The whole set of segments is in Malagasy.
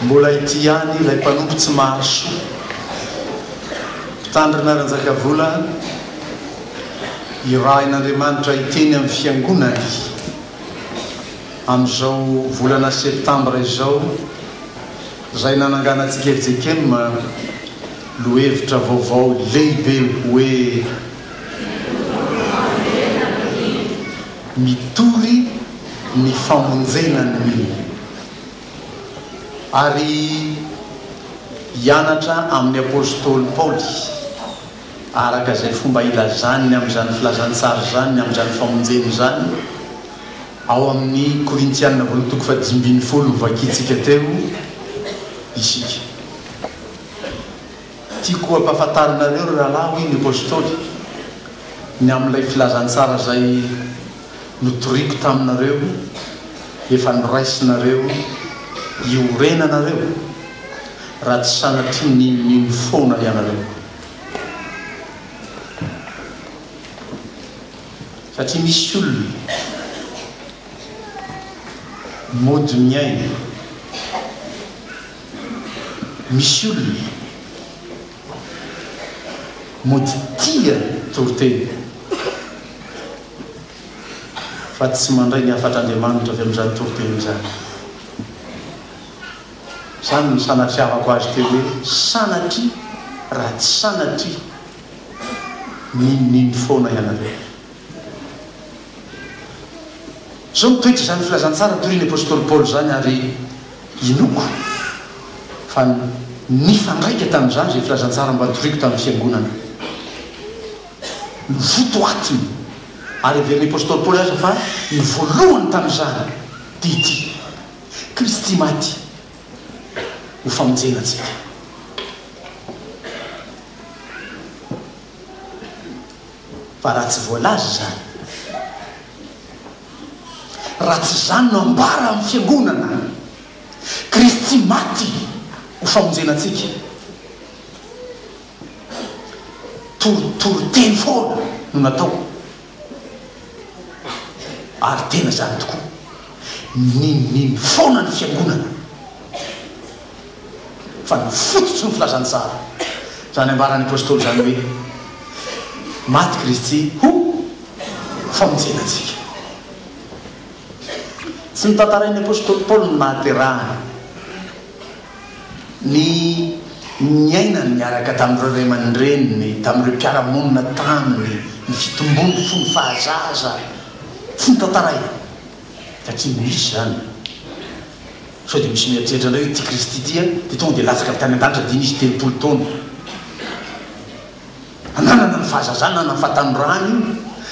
Mbola ity ihany ilay mpanompo tsy mahasoa. Mpitandrina Ranjakavola irahin'Andriamanitra hiteny amin'ny fiangonany amin'izao volana septambra izao izay nananganantsika FJKM lohevitra vaovao lehibe hoe. Mitory ny famonjena ny olona. Ary hianatra amin'ny apostoly Paoly araka izay fomba ilazany amin'izany filazantsara izany ny amin'izany famonjena izany ao amin'ny Korintiana voalohany toko fahadimy ambin'ny folo novakintsika teo isika. Tiako hampafantarinareo ry rahalahy, hoy ny apostoly, ny amin'ilay filazantsara izay notoriako taminareo, efa noraisinareo iorenanareo, raha tsy sanatria ninonino foana ianareo. Satria misy olona mody miaina. Misy olona mody tia toriteny fa tsy mandray ny hafatr'Andriamanitra avy amin'izany toriteny izany. Izany no sanatriavako azy teo hoe sanatria raha tsy sanatria n'inon'ino foana ianareo. Izao ny toetr'izany filazantsara torin'ny apostoly Paoly izany ary. Inoako fa nifandraika tamin'izany izay filazantsara mba notoriko tamin'ny Fiangonana. Novotoatiny ary heverin'ny apostoly Paoly aza fa ny voalohany tamin'izany dia ity, Kristy maty ho famonjena antsika. Fa raha tsy voalaza izany, raha tsy izany no ambara amin'ny fiangonana. Kristy maty ho famonjena antsika. Toritoriteny foana no natao ary tena izany tokoa. Ninoninony foana ny fiangonana. fa ny fototry ny filazantsara izany ambaran'ny Apostoly izany hoe maty Kristy ho famonjena antsika. Tsy notantarain'ny Apostoly Paoly ny nahaterahany ny niainany niaraka tamin'ireo ray aman-dreniny, tamin'ireo mpiara-monina taminy, ny fitombony fony fahazaza. Tsy notantarainy, fa tsy misy izany. Sao dia misy mieritreritra indray hoe ity Kristy ity an, dia tonga dia latsaka avy tany an-danitra dia nisy telopolo taona nanana ny fahazazany na nanana ny fahatanorany io,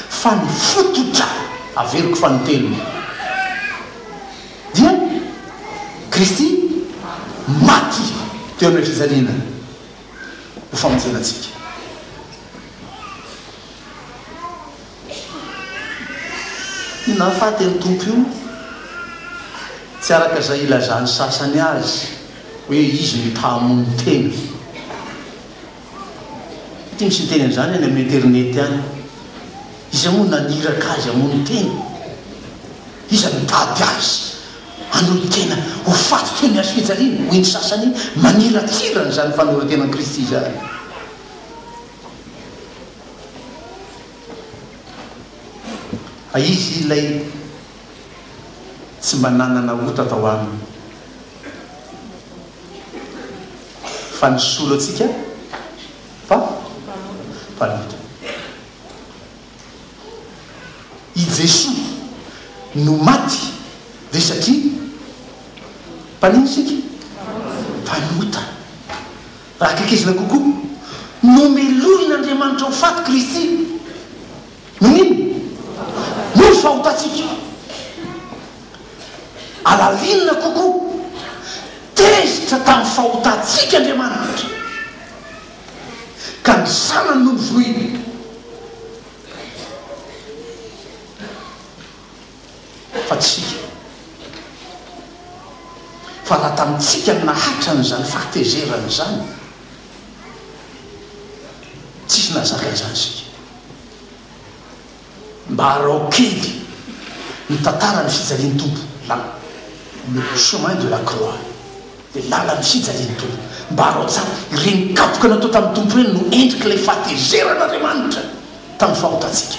fa ny fototra averiko fa ny telony dia Kristy maty teo amin'ilay fijaliana ho famonjena antsika. Io nahafaty an'i Tompo io, tsy araka izay ilazan'ny sasany azy hoe izy no ta-hamono tena. Mety misy miteny an'izany any amin'ny internet any. Iza moa naniraka azy hamono tena? Iza nitady azy hanohy tena ho faty toy ny azo fijaliana? Hoy ny sasany, maniratsira an'izany fanoren-tenan'i Kristy izany. Fa izy ilay tsy mba nanana ota tao aminy. Fa ny solo antsika fa mpanota. I Jesoa no maty dia satria mpanino isika? Mpanota. Raha akaikezina kokoa, nomelohin'Andriamanitra ho faty Kristy. Noho ny inona? Noho ny fahotantsika. Halalinina kokoa, tezitra tamin'ny fahotantsika Andriamanitra, ka ny Zanany no novonoiny. fa tsy isika. Fa raha tamintsika no nahatrany izany fahatezerana izany, tsisy nahazaka izany isika. Mba araho kely ny tantaran'ny fijalian'ny Tompo, la, le chemin de la croix. Dia lala ny fijalian'ny Tompo. Mbaro tsara, ireny kapoka natao tamin'ny Tompo ireny no endrik'ilay fahatezeran'Andriamanitra tamin'ny fahotantsika.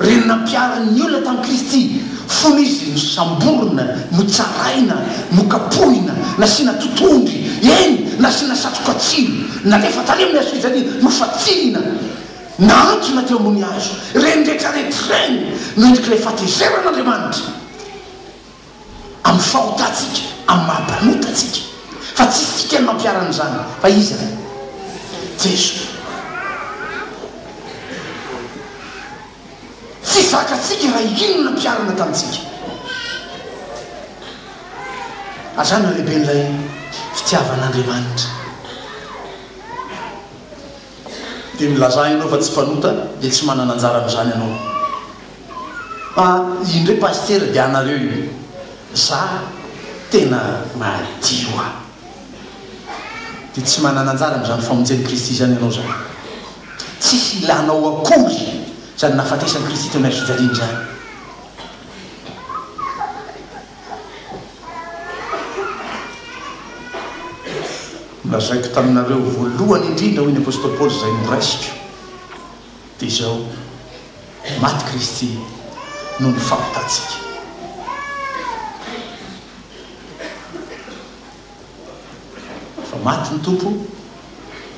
Ireny nampiharin'ny olona tamin'i Kristy fony Izy nosamborina, notsaraina, nokapohina, nasiana totohondry, eny, nasiana satroka tsilo, nalefa tany amin'ny hazofijaliana, nofantsihina, nahantsona teo ambony hazo. Ireny rehetra rehetra ireny no endrik'ilay fahatezeran'Andriamanitra. amin'ny fahotantsika, amin'ny maha mpanota antsika, fa tsy isika no nampiharany izany, fa Izy Ray, Jeso. Tsy zakatsika raha ino no nampiharana tamintsika. Ary izany no halehiben'ilay fitiavan'Andriamanitra. Dia milazà ianao fa tsy mpanota, dia tsy manana anjara amin'izany ianao. Ah indreo pasitera dia anareo io za tena madio ah dia tsy manana anjara amin'izany famonjen'i Kristy izany ianao zany tsisy ilanao akory izany nahafatesan'i Kristy teo amin'ilay fijaliana izany nolazaiko taminareo voalohany indrindra hoy ny apostoly Paoly izay noraisiko Dia izao, maty Kristy noho ny fahotantsika. Fa maty ny Tompo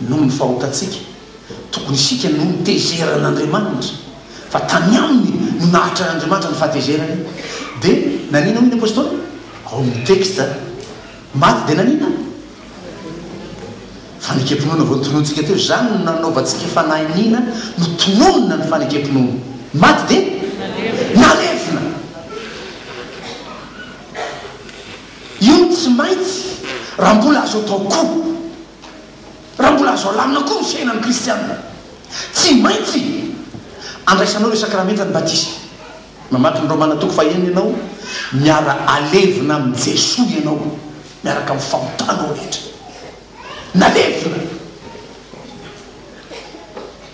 noho ny fahotantsika, tokony isika no notezerana Andriamanitra, fa tany Aminy no nahatran'Andriamanitra ny fahatezerany. Dia nanina hoy ny Apostoly? Ao amin'ny texte, maty dia nanina? Fanekem-pinoana vao notononintsika teo, izany no nanaovantsika fanahy iniana, notononina ny fanekem-pinoana. Ny maty dia nalevina. Io no tsy maintsy raha mbola azo atao koa, raha mbola azo alamina koa ny fiainan'ny kristiana. Tsy maintsy andraisanao ireo sakramentan'ny batisa. Mamaky ny Romana toko fahenina ianao, miara alevina amin'i Jesoa ianao miaraka amin'ny fahotanao rehetra. Nalevina!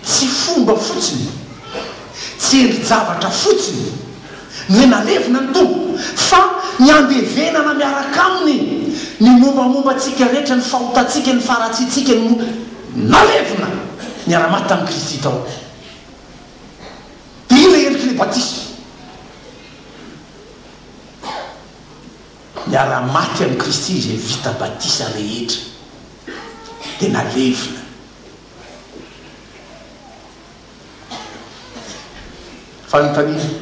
Tsy fomba fotsiny, tsy endri-javatra fotsiny ny hoe nalevina ny Tompo, fa ny andevenana miaraka Aminy ny mombamomba antsika rehetra, ny fahotantsika, ny faharatsiantsika, ny mo. Nalevina! Niara-maty tamin'i Kristy tao. Dia iny ilay endrik'ilay batisa. Niara-maty amin'i Kristy izay vita batisa rehetra, dia nalevina. Fanontaniana.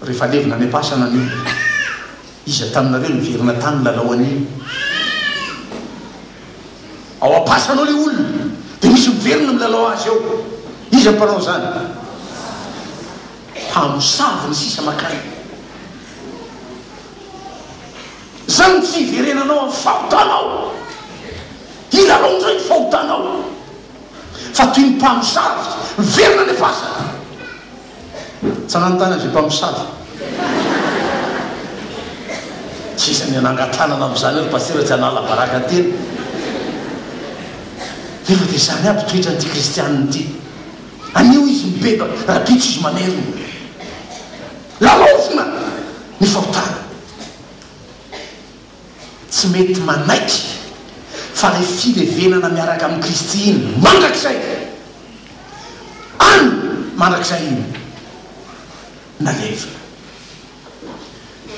Rehefa levona any am-pasana ny olona, iza taminareo niverina tany nilalao an'iny? Ao am-pasana ao ilay olona, dia misy miverina milalao azy eo. Iza no mpanao izany? Mpamosavy ny sisa makany. Izany no tsy hiverenanao amin'ny fahotanao. Hilalao indray ny fahotanao. Fa toy ny mpamosavy miverina any am-pasana. Tsanan'ny tany avy mpamosavy. Tsy isan'ny anangan-tanana amin'izany ry Pasitera tsy hanala baraka tena. Nefa dia izany aby toetran'ity kristianina ity. Anio izy mibebaka, rabitso izy mamerina. Lalaovina ny fahotana. Tsy mety manaiky fa ilay filevenana miaraka amin'i Kristy iny mandrakizay, any mandrakizay iny na levona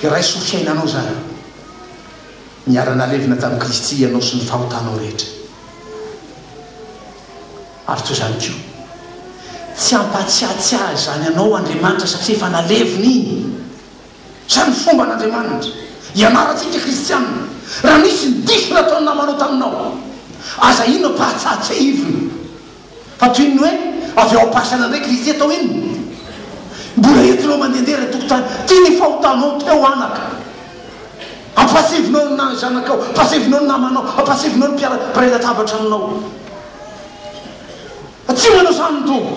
iray soa fiainanao izany, niara-nalevina tamin'i Kristy ianao sy ny fahotanao rehetra. Ary toy izany koa, tsy hampahatsiatsiahy izany anao Andriamanitra satria efa nalevina iny. Izany ny fomban' Andriamanitra ianarantsika kristiana. Raha nisy ny diso nataon'ny namanao taminao, aza inona fa hatsatsehivina. Fa toy ny hoe avy ao am-pasana indray Kristy atao inona? Mbola entinao mandehandeha ilay tokontany, tia ny fahotanao teo anaka. Ampiasevinao ny na zanakao, ampiasevinao ny namanao, ampiasevinao ny mpiara-mpiray latabatra aminao fa tsy manao izany ny Tompo.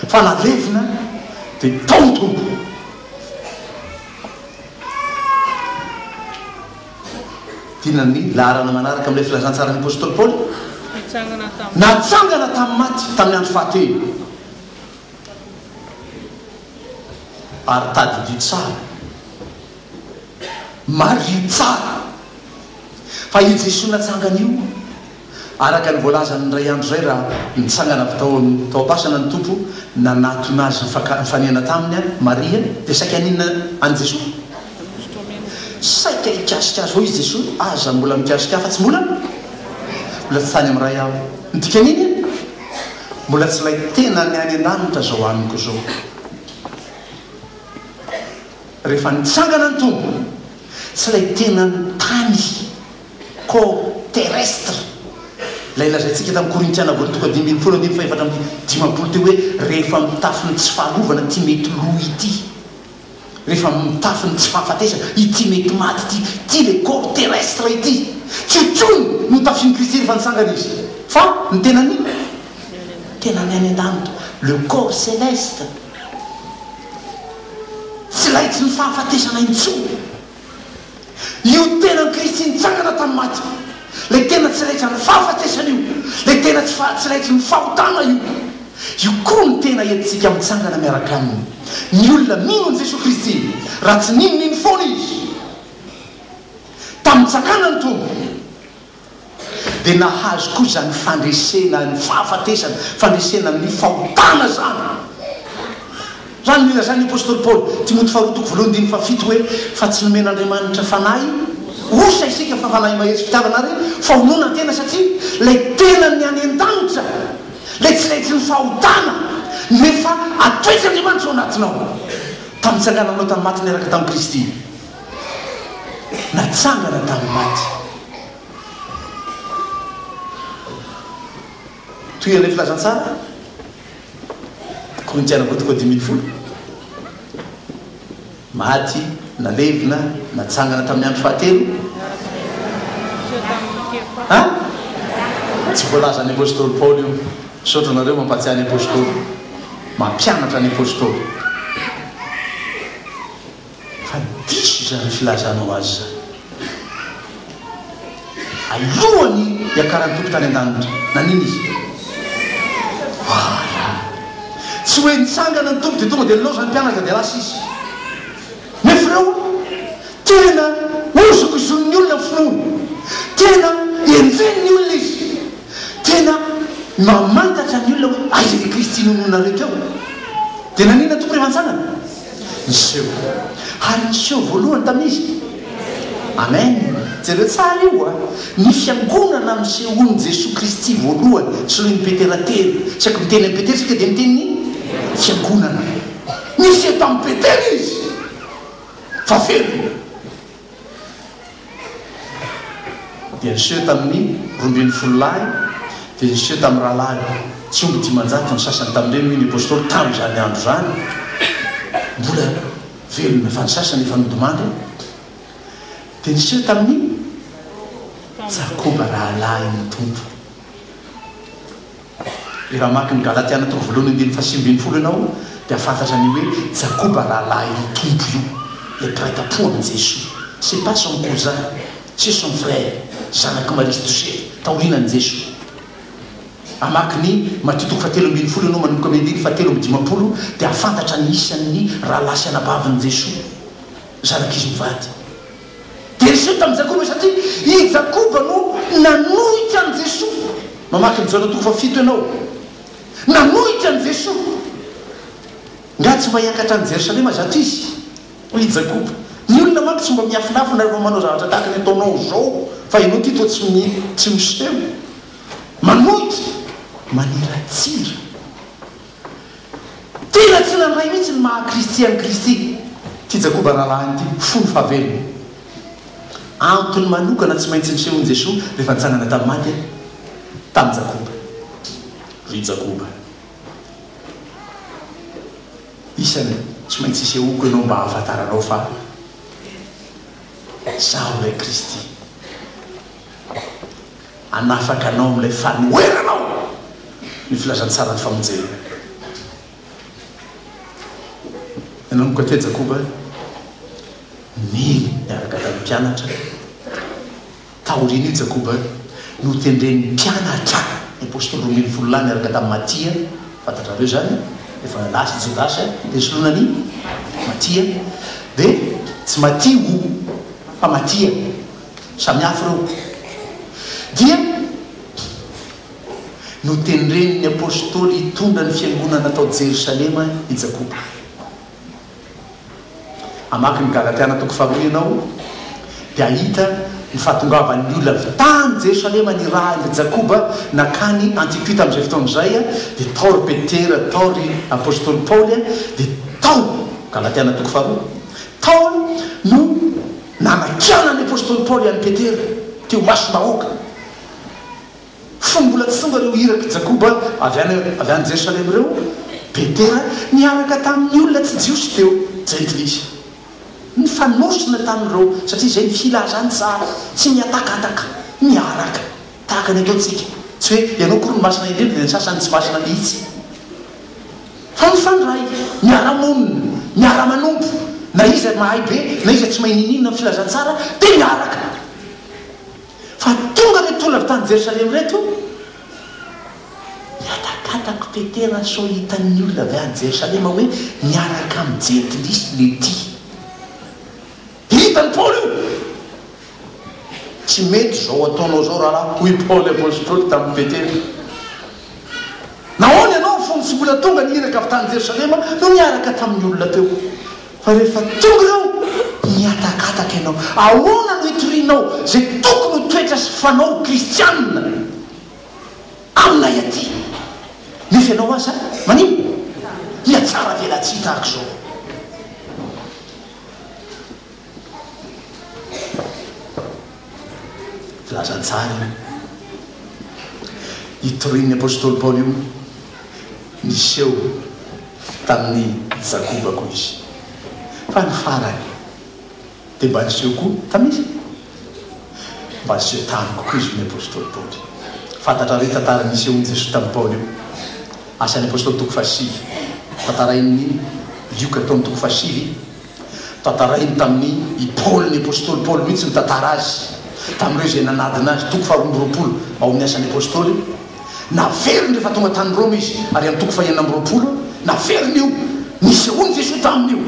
Fa na levona de tao ny Tompo. Tiana ny laharana manaraka amin'ilay filazantsaran'ny apostoly Paoly, Natsangana tamin'ny maty tamin'ny andro fahatelo. Ary tadidio tsara, mariho tsara, fa io Jesoa natsangana io Araka ny voalazan'ny indray andro izay raha nitsangana avy tao amin'ny tao am-pasana ny Tompo nanatona azy nifaka- nifaniana taminy an, Maria dia saika haninona an'i Jesoa? Saika hikasika azy hoy izy Jesoa, aza mbola mikasika ahy fa tsy mbola mbola tsy tany amin'ny Ray aho. Ny dikan'iny an, mbola tsy ilay tenany any an-danitra izao haniko izao. Rehefa nitsangana ny Tompo, tsy ilay tenany tany. Ko terrestre, ilay lazaintsika tamin'ny Korintiana voalohany toko dimy ambin'ny folo andininy fahefatra amby dimampolo teo hoe rehefa mitafy ny tsy faharovana ity mety lo ity, rehefa mitafy ny tsy fahafatesana ity mety maty ity, ity ilay ko terrestre ity, tsy io intsony no tafian'i Kristy rehefa nitsangana Izy, fa ny tenany tenany any an-danitra, le corps celeste, tsy laitsin'ny fahafatesana intsony. Io tenan'i Kristy nitsangana tamin'ny maty, ilay tena tsiraidran'ny fahafatesana io, ilay tena tsy fa tsiraidrin'ny fahotana io, io koa no tena entintsika mitsangana miaraka Aminy. Ny olona mino an'i Jesoa Kristy, raha tsy nino, nino foana izy tamin'ny nitsakanan'ny Tompo. dia nahazo koa izany fandresena ny fahafatesana, fandresena amin'ny fahotana izany. Raha ny nilazan'ny apostoly Paoly, Timoty faharoa toko voalohany andininy fahafito hoe, Fa tsy nomen'Andriamanitra fanahy osa isika fa fanahy mahery sy fitiavana ary fahononan-tena, satria ilay tenany any an-danitra, ilay tsy leitrin'ny fahotana no efa atoetr'Andriamanitra ao anatinao, tamin'ny nitsangananao tamin'ny maty niaraka tamin'i Kristy. natsangana tamin'ny maty. Toy ilay filazantsara, Korintiana Kôty Kôty dimy ambin'ny folo, Maty, nalevina, natsangana tamin'ny andro fahatelo. Ha? Tsy voalazan'ny Apôstôly Paoly io. Misaotra anareo mampahatsiahy ny Apôstôly, mampianatra ny Apôstôly. Fa diso izany filazanao azy izany. Alohany hiakaran'ny Tompo tany an-danitra, nanina izy? Voaala. Tsy hoe nitsangana ny Tompo dia tonga dia nilaozany mpianatra dia lasa izy. Nefa ireo tena hozokizonin'ny olona ny finoany. Tena enjehin'ny olona izy. Tena mamantatra ny olona hoe aiza ilay Kristy nononareo teo. Dia nanina ny Tompo rehefa nitsangana? Niseho. Ary niseho voalohany tamin'izy. Amen. Jereo tsara io a! Ny Fiangonana nisehoan'i Jesoa Kristy voalohany, soloin'i Petera telo. Tsy haiko miteny amin'i Petera isika dia miteny ny Fiangonana. Niseho tamin'i Petera izy fa velona. Dia niseho tamin'ny roa ambin'ny folo lahy, dia niseho tamin'ny rahalahy tsy omby dimanjato ny sasany tamin'ireny, hoy ny apostoly, tamin'izany andro izany, mbola velona fa ny sasany efa nodimandry. Dia niseho tamin'i Jakoba rahalahin'ny Tompo. Dia raha mamaky ny Galatiana toko voalohany andininy faha sivy ambin'ny folo ianao dia fantatra an'io hoe Jakoba rahalahin'ny Tompo io, ilay mpiray tampoha amin'i Jesoa. C'est pas son cousin, c'est son frère, zanak'i Maria sy Josefa, taorianan'i Jesoa. Hamaky ny Matio toko faha telo ambin'ny folo ianao manomboka amin'ny andininy faha telo amby dimampolo dia hahafantatra ny isan'ny rahalahy sy anabavin'i Jesoa, zanak'izy mivady. Dia niseho tamin'i Jakoba izy satria i Jakoba no nanohitra an'i Jesoa. Mamaky ny Jaona toko fahafito ianao. Nanohitra an'i Jesoa. Nga tsy mba hiakatra any Jerosalema zato izy? hoy i Jakoba. Ny olona manko tsy mba miafinafina rehefa manao zavatra tahaka ny ataonao izao fa ianao ity toa tsy tsy miseho. Manohitra maniratsira. Tena tsy nandray mihitsy ny maha Kristy an'i Kristy ity Jakoba rahalahiny ity, fony fahavelony. Antony manokana tsy maintsy nisehoan'i Jesoa rehefa nitsangana tamin'ny maty tamin'i Jakoba. Ry Jakoba, isany tsy maintsy isehoako ianao mba hahafantaranao fa Izaho ilay Kristy. Hanafaka anao amin'ilay fanoherana aho, ny filazantsaran'ny famonjena. Ianao mokate Jakoba, nily niaraka tamin'ny mpianatra. Taorian'io Jakoba notendren'ny mpianatra, ny apostoly roa ambin'ny folo lahy niaraka tamin'i Matia, fantatrareo izany, efa lasa i Jodasy dia nisoloana an'i Matia, dia tsy Matia o, fa Matia. samihafa ireo dia notendren'ny Apostoly hitondra ny fiangonana tao Jerosalema i Jakoba. Hamaky ny Galatiana toko faharoa ianao dia hahita ny fahatongavan'ny olona avy tany Jerosalema nirahin'i Jakoba nakany Antiokia tamin'izay fotoana izay dia tao ry Petera, tao ry Apostoly Paoly dia tao, Galatiana toko faharoa, tao no Nanakiana ny apostoly Paoly an'i Petera teo imasom-bahoaka, fony mbola tsy tonga ireo irak'i Jakoba avy any avy any Jerosalema ireo, Petera niaraka tamin'ny olona tsy Jiosy teo, jentilisa. Nifanosona tamin'ireo, satria izay ny filazany tsara, tsy mihatakataka, miaraka, tahaka ny ataontsika. Tsy hoe ianao akory no masina indrindra, dia ny sasany tsy masina mihitsy. Fa mifandray, miara-monina, miara-manompo, na iza mahay be na iza tsy mahay ninoninona ny filazantsara dia miaraka. Fa tonga ireto olona avy tany Jerosalema ireto, mihatakatako petera sao hitan'ny olona avy any Jerosalema hoe miaraka amin'ny jentilisa ilay tia. Hitan'i Paoly io. Tsy mety izao ataonao izao rahalahy, hoy i Paoly apostoly tamin'i Petera. Nahoana ianao fony tsy mbola tonga ny iraka avy tany Jerosalema no niaraka tamin'ny olona teo, fa rehefa tonga ireo, nihatakataka ianao? Ahoana no itorianao izay tokony ho toetra sy fanao ho kristiana aminay aty, nefa ianao aza manimba? Hihatsara velatsihy tahaka izao? Filaza tsara io. Io torin'ny apostoly Paoly io niseho tamin'i Jakoba koa izy. Fa ny farany dia mba niseho koa tamin'i. Mba aseho tamiko koa izy io ny apostoly Paoly. Fantatrareo io tantara nisehoan'i Jesoa tamin'i Paoly io. Asan'ny apostoly toko fahasivy. Tantarain'ny Lioka tao amin'ny toko fahasivy. Tantarainy tamin'ny i Paoly ny apostoly Paoly mihitsy nitantara azy tamin'ireo izay nanadina azy, toko faharoa amby roapolo ao amin'ny Asan'ny apostoly. Naveriny rehefa tonga tany Roma izy ary amin'ny toko fahenina amby roapolo naveriny io nisehoan'i Jesoa taminy io.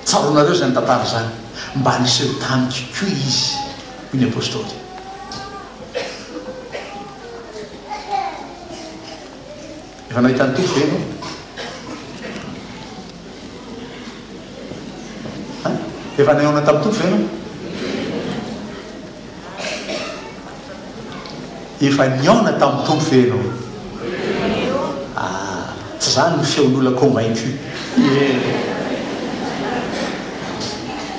Tsaroanareo izany tantara izany? Mba niseho tamiko koa izy, hoy ny apostoly. Efa nahita ny Tompo ve ianao? Efa nihaona tamin'ny Tompo ve ianao? Efa nihaona tamin'ny Tompo ve ianao? Ah, tsy izany ny feon'olona convaincu. Eny.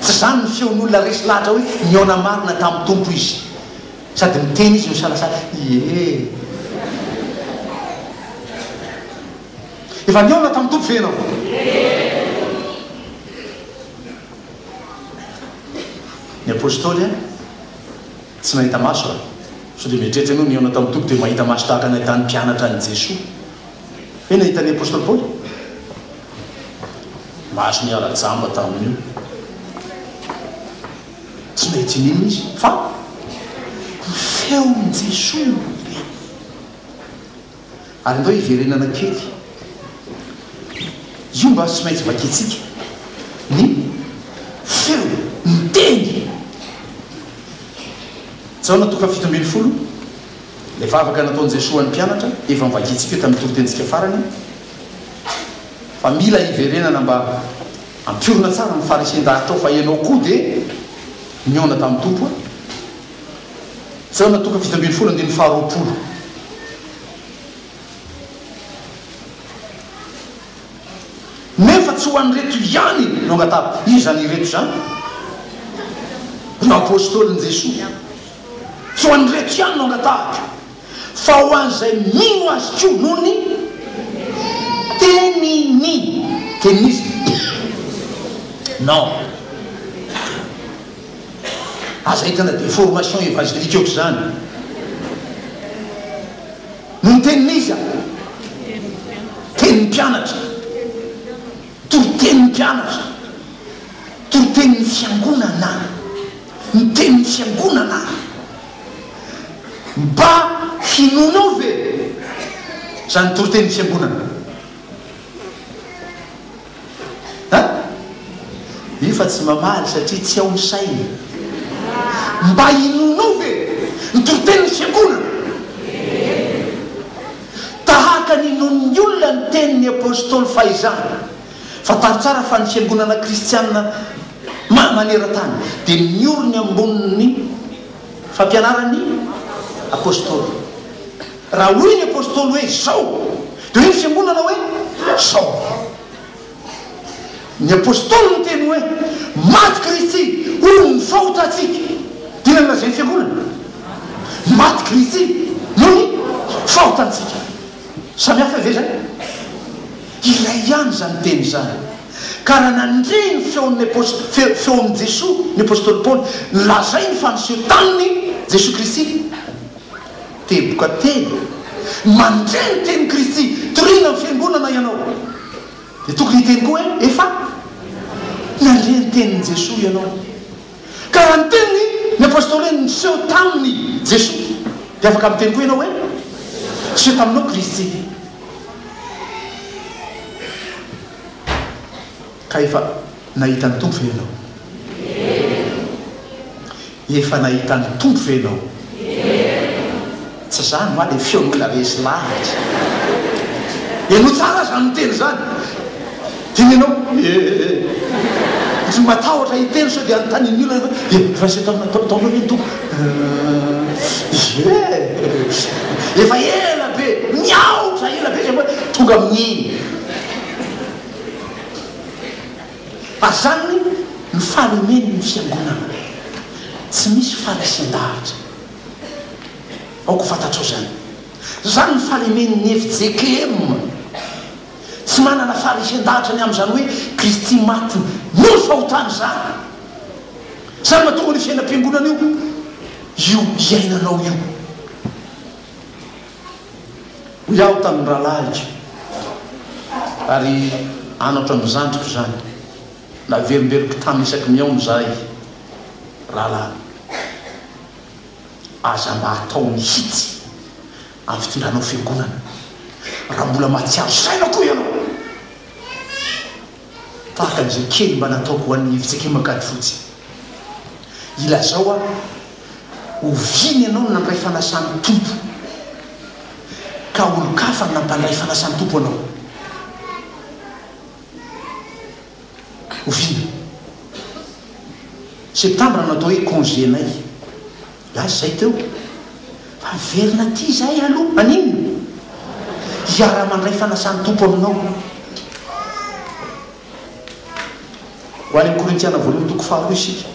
Tsy izany ny feon'olona resy lahatra hoe nihaona marina tamin'ny Tompo izy. Sady miteny izy no misalasala, ie. Efa nihaona tamin'ny Tompo ve ianao? Ny Apostoly an. Tsy nahita maso aho. Sao dia mieritreritra ianao, nihaona tamin'ny Tompo dia mahita maso tahaka ny nahitan'ny mpianatra an'i Jesoa? Ve nahita ny Apostoly Paoly? Maso niara-jamba tamin'io. Tsy nahita in'inona izy, fa ny feon'i Jesoa no niteny. Ary ndao hiverenana kely. Io mba tsy maintsy vakintsika. Ny feo miteny. Jaona toko fahafito ambin'ny folo, ilay vavaka nataon'i Jesoa ho an'ny mpianatra, efa novakintsika io tamin'ny toritenintsika farany, fa mila hiverenana mba hampiorina tsara ny Farisen-daharitra ao, fa ianao koa dia nihaona tamin'ny Tompo a! Jona toko fito ambin'ny folo andininy faharoapolo Nefa tsy ho an'ireto ihany no angatahako. Iza izany ireto izany? Ireo Apôstôlin'i Jesoa. Tsy ho an'ireto ihany no angatahako, fa ho an'izay mino Azy koa noho ny teniny, tenin'Izy. Non. Aza ahitana deformation evangelique ohatr'izany. No ny tenin'iza? Tenin'ny mpianatra. Toritenin'ny mpianatra. Toritenin'ny fiangonana. Ny tenin'ny fiangonana. Mba hinoanao ve izany toritenin'ny fiangonana? An! Nefa tsy mamaly satria tsy ao ny sainy. Mba inoanao ve ny toritenin'ny fiangonana? Tahaka ny inoan'ny olona ny tenin'ny apostoly fahizany, fantaro tsara fa ny fiangonana kristiana maneran-tany dia miorina ambonin'ny fampianaran'ny apostoly. Raha hoy ny Apostoly hoe, Izao! dia hoy ny Fiangonana hoe, Izao avao! Ny Apostoly niteny hoe, Maty Kristy, hoy ny fahotantsika. Dia inona no lazain'ny Fiangonana? Maty Kristy, noho ny fahotantsika. Samy hafa ve izany? Iray ihany izany teny izany. Ka raha nandre ny feon'ny Apostoly, feon'i Jesoa, ny Apostoly Paoly, nolazainy fa niseho taminy Jesoa Kristy. Teboka teny, mandre ny tenin'i Kristy, toriana ny Fiangonana ianao. Dia tokony hiteny koa hoe, Efa nandre ny tenin'i Jesoa ianao. Ka raha niteny ny Apôstôly hoe, Niseho taminy Jesoa, dia afaka miteny koa ianao hoe, Niseho taminao Kristy. Ka efa nahita ny Tompo ve ianao? Efa nahita ny Tompo ve ianao? Tsy izany va ilay feon'olona resy lavitra? Heno tsara izany miteny izany. Dia ny anao ee. Tsy matahotra hiteny sao dia anontanian'ny olona ianao hoe efa nisy nataonao ve ny Tompo? Ee. Efa ela be, miahotra ela be izay vao tonga amin'iny. Fa izany no fahalemeny ny fiangonana, tsy misy fanesen-dahatra. Aoka ho fantatrao izany. Izany no fahalemeny ny fjkm, tsy manana faharesen-dahatra ny amin'izany hoe Kristy maty noho ny fahotana izany. Izany mahatonga an'io fiainam-piangonana io, io iainanao io. Hoy aho tamin'ny rahalahiko, ary anatra ny zandriko izany, naverimberiko tany isaky ny aona izahay, Rahalahy, aza mba atao mihitsy amin'ny fitondranao fiangonana, raha mbola mahatsiaro saina koa ianao, tahaka an'izay kely mba nataoko ho an'ny Evits'Ekimakadifotsy. Ilazao aho. Oviana ianao no nandray fanasan'ny Tompo, ka olon-kafa no nampandray fanasan'ny Tompo anao? Oviana? Septambra no atao hoe congé-nay. Lasa izay teo, fa miverina aty izahay aloha. Haninona? Hiara-mandray fanasan'ny Tompo aminao. Ho any amin'ny Korintiana voalohany toko faharoa isika.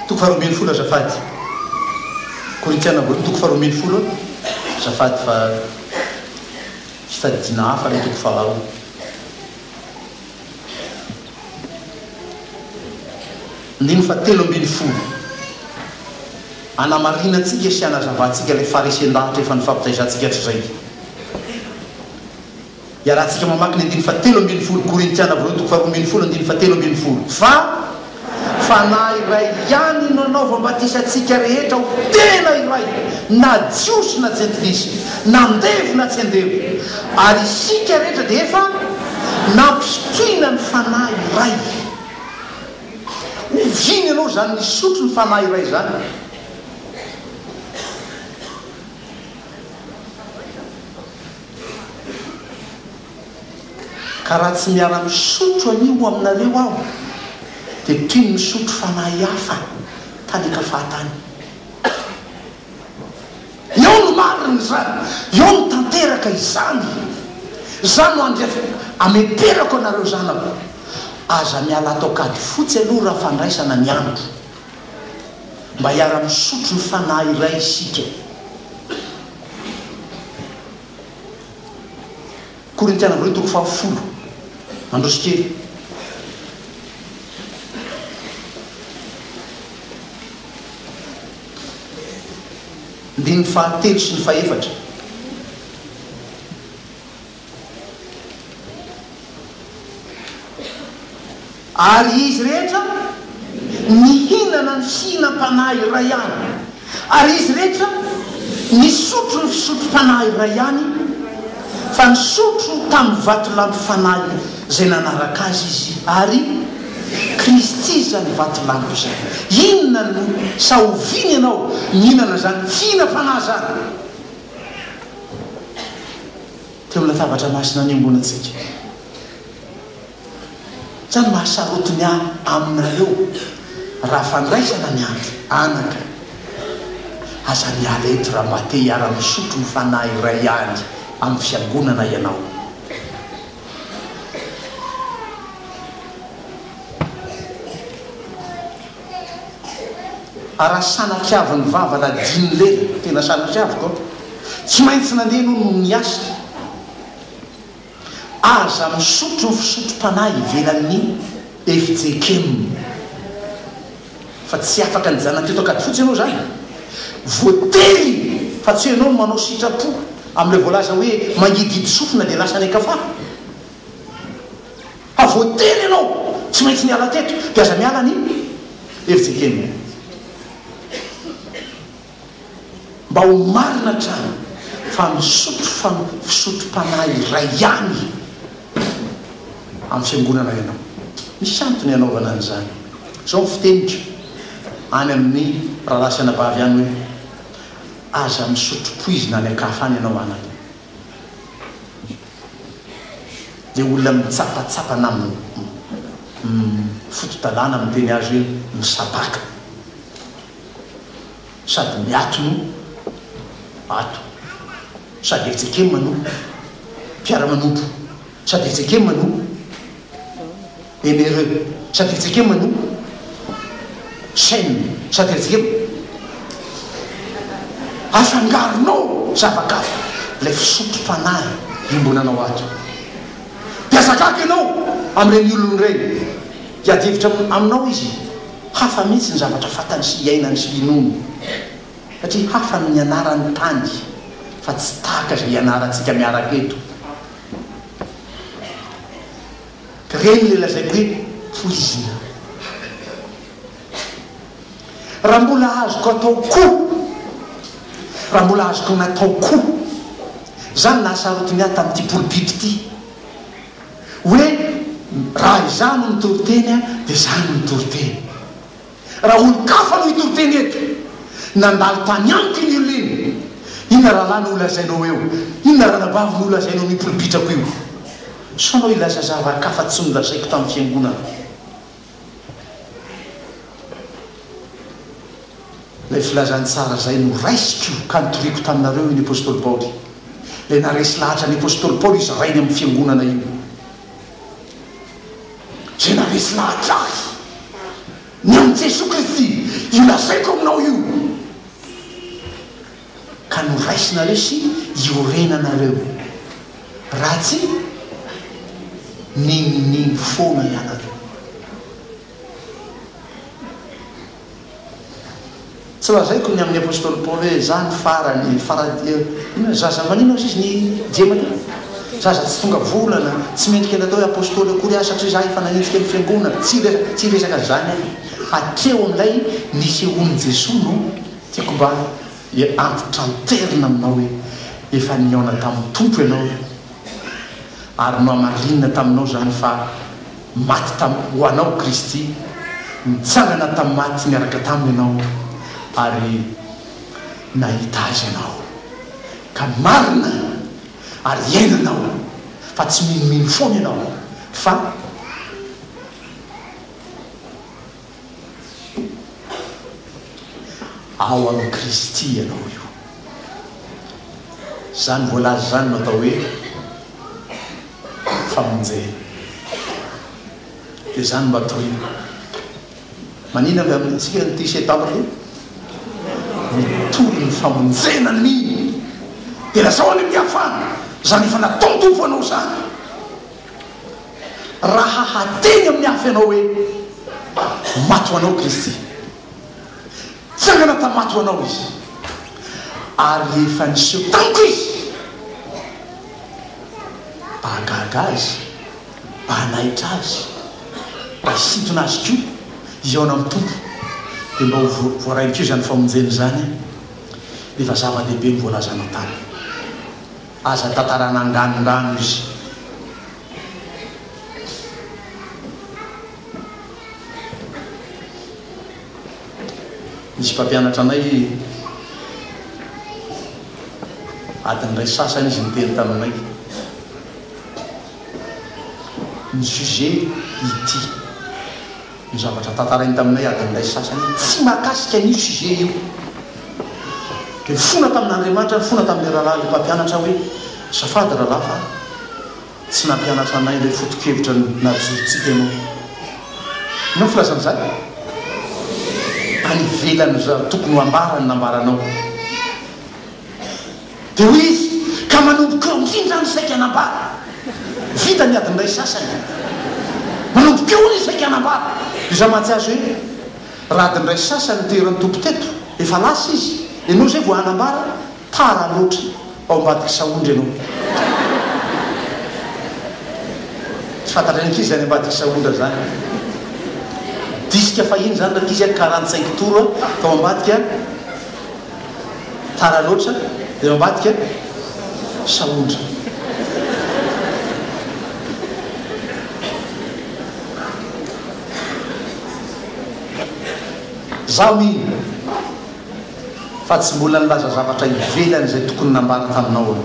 Toko faharoa ambin'ny folo azafady. Korintiana voalohany toko faharoa ambin'ny folo azafady fa fitadidiana hafa ny toko faharoa. Andininy fahatelo ambin'ny folo, Anamarinantsika sy anazavantsika ilay faharesen-davitra efa nifampitaizantsika hatrizay. Iarahantsika mamaky ny andininy fahatelo ambin'ny folo, Korintiana Voalohany toko faharoa ambin'ny folo, andininy fahatelo ambin'ny folo, Fa. Fanahy iray ihany no nanaova batisa antsika rehetra ho tena iray, na Jiosy na Jentilisa, na andevo na tsy andevo, ary isika rehetra dia efa nampisotroina ny Fanahy iray. Oviana ianao izany nisotro ny Fanahy iray izany? Ka raha tsy miara misotro anio aminareo aho dia toy ny misotro fanahy hafa tany Kafahatany. Eo no marina izany, eo no tanteraka izany. Izany no andref ameperako anareo zanako, aza miala ato an-kady fotsy aloha raha fandraisana ny andro. Mba hiara-misotro ny fanahy iray isika. Korintiana voalohany toko fahafolo, mandroso kely. Andininy fahatelo sy ny fahefatra. Ary izy rehetra nihinana ny fihinam-panahy iray ihany, ary izy rehetra nisotro ny fisotrom-panahy iray ihany, fa nisotro tamin'ny vatolampy fanahy izay nanaraka azy izy, ary Kristy izany vatolampy izany. Inona no sahoviany ianao nihinana izany fihinam-panahy izany teo amin'ny latabatra masina niomboana antsika? Sa mahasaroty ny ahy aminareo raha fandraisana ny andro? Anaka, aza miala eto raha mba te hiara-misotro ny fanahy iray ihany amin'ny Fiangonana ianao. A Raha sanatriavin'ny vava na din'ny lela, tena sanatriaviko, tsy maintsy nandeha ianao noho ny asa. Aza misotro fisotro-panahy ivelan'ny FJKM. Fa tsy afaka nijanona teto Ankadifotsy ianao izany. Voatery fa tsy ianao no manao sitrapo amin'ireo voalaza hoe mangidihidy sofina dia lasa any an-kafà. Fa voatery ianao tsy maintsy niala teto dia aza miala ny FJKM. Mba ho marina hatrany fa misotro fisotrom-panahy iray ihany amin'ny Fiangonana ianao. Misy antony hanaovana an'izany. Izao ny fiteniko any amin'ny rahalahy sy anabavy any hoe, Aza misotro poizina any an-kafa any ianao anaka. Dia olona mitsapatsapa na mifoto-dalàna miteny azy hoe misabaka. sady miato no ato sady FJKM no mpiara-manompo sady FJKM no MRE sady FJKM no Sen sady FJKM afangaronao zava-kafa ilay fisotrom-panahy iombonanao ato dia azakako ianao amin'ireny olona ireny hiady hevitra aminao izy Hafa mihitsy ny zavatra fantany sy iainany sy inoany satria hafa ny nianarany tany fa tsy tahaka izay ianarantsika miaraka eto. Ireny ilay lazaiko hoe poizina. Raha mbola azoko atao koa, raha mbola azoko natao koa, izaho no nahasarotiny ahy tamin'ity poulpit ity. hoe raha izaho no mitory teny dia izaho no mitory teny. Raha olon-kafa no hitory teny eto, nandalo tany amiko iny olona iny, inona rahalahy no holazainao eo? Inona ranabavy no holazainao mipiripitrako io? Sao anao hilaza zava-kafa tsy nolazaiko tamin'ny fiangonana? Ilay filazany tsara izay no raisiko ka nitoriako taminareo iny apostoly Paoly. Ilay naharesy lahatra ny apostoly Paoly izy rainy amin'ny fiangonana iny. Izay naharesy lahatra ahy, ny an'i Jesoa Kristy, io lazaiko aminao io. ka noraisinareo sy iorenanareo io. Raha tsia, ninoninino foana ianareo. Tsy lazaiko ny amin'ny apostoly Paoly hoe izaho ny farany, farany, inona ny zaza, maninona hozy izy ny djema teo? Zaza tsy tonga volana, tsy mendrika ny atao hoe apostoly akory aho satria izaho efa nanenjika ny fiangonana. Tsy resaka, tsy resaka an'izany aho. Hatreo amin'ilay nisehoan'i Jesoa no. Tiako mba hiantitranterina aminao hoe efa nihaona tamin'ny Tompo ianao ary nohamarinina taminao izany fa maty tam ho anao Kristy, nitsangana tamin'ny maty niaraka taminy ianao ary nahita Azy ianao ka marina ary hiaina ianao fa tsy minomino foana ianao fa. Ao amin'i Kristy ianao io. Izany voalaza izany no atao hoe famonjena. Dia izany mba torina. Manina avy amintsika ny tise tampoka. Mitory ny famonjena ny dia lazao any amin'ny hafa izany efa nataon-tompo anao izany. Raha hateny amin'ny afo ianao hoe, Maty ho anao Kristy. Nitsangana tamin'ny maty ho anao Izy. Ary efa niseho tamiko Izy. Mba hahagaga Azy, mba hanaitra Azy, mba hisintona Azy koa, hihaona amin'ny Tompo, dia mba ho voarain'Ikoa izany famonjena izany, dia efa zava-dehibe ny voalazanao taminy. Aza tantarana anganondrano izy. Nisy mpampianatra anay adiny iray sasany izy niteny taminay ny sujet ity. Io zavatra tantarainy taminay adin'ilay sasany io tsy mahakasika an'io sujet io. Dia nifona tamin'Andriamanitra, nifona tamin'ilay rahalahy ilay mpampianatra hoe, Azafady rahalahy fa tsy nampianatra anay ilay foto-kevitra najorontsika ianao. Inona ny filazan'izany? Any ivelan'izany tokony ho ambara ny nambaranao. Dia hoy izy, Ka manomboka eo indrindra izany ny saika hanambady. Vita ny adin'iray sasany. Manomboka eo hono ny saika hanambady. Dia izaho mahatsiahy azy hoe, Raha adin'iray sasany no teheran'ny Tompo teto, efa lasa izy, ianao izay vao hanambara? Tara loatra, ao ambadik'i Saondry ianao. Tsy fantatry ny ankizy izany ambadik'i Saondra izany. Disque fahiny izany rankizy a, quarante cinq tours tao ambadika. Tara loatra eo ambadika sahondra. Zaho mino fa tsy mbola nilaza zavatra ivelan'izay tokony nambara taminao aho.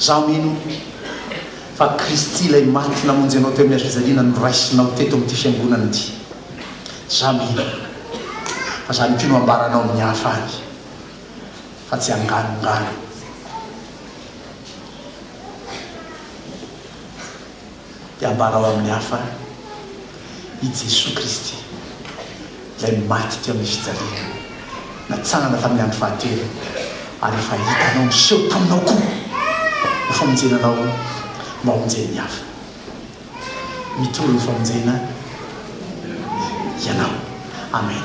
Izaho mino fa Kristy ilay maty namonjy anao teo amin'ny hazofijaliana no raisinao teto amin'ity fiangonana ity. Izaho mino fa izany koa no hambaranao amin'ny hafa any, fa tsy hanganongano. Hiambarao amin'ny hafa i Jesoa Kristy, Ilay maty teo amin'ny fijaliana, natsangana tamin'ny andro fahatelo, ary efa hitanao niseho taminao koa ho famonjena anao mba homonjen'ny hafa. Mitory ho famonjena ianao. Amen.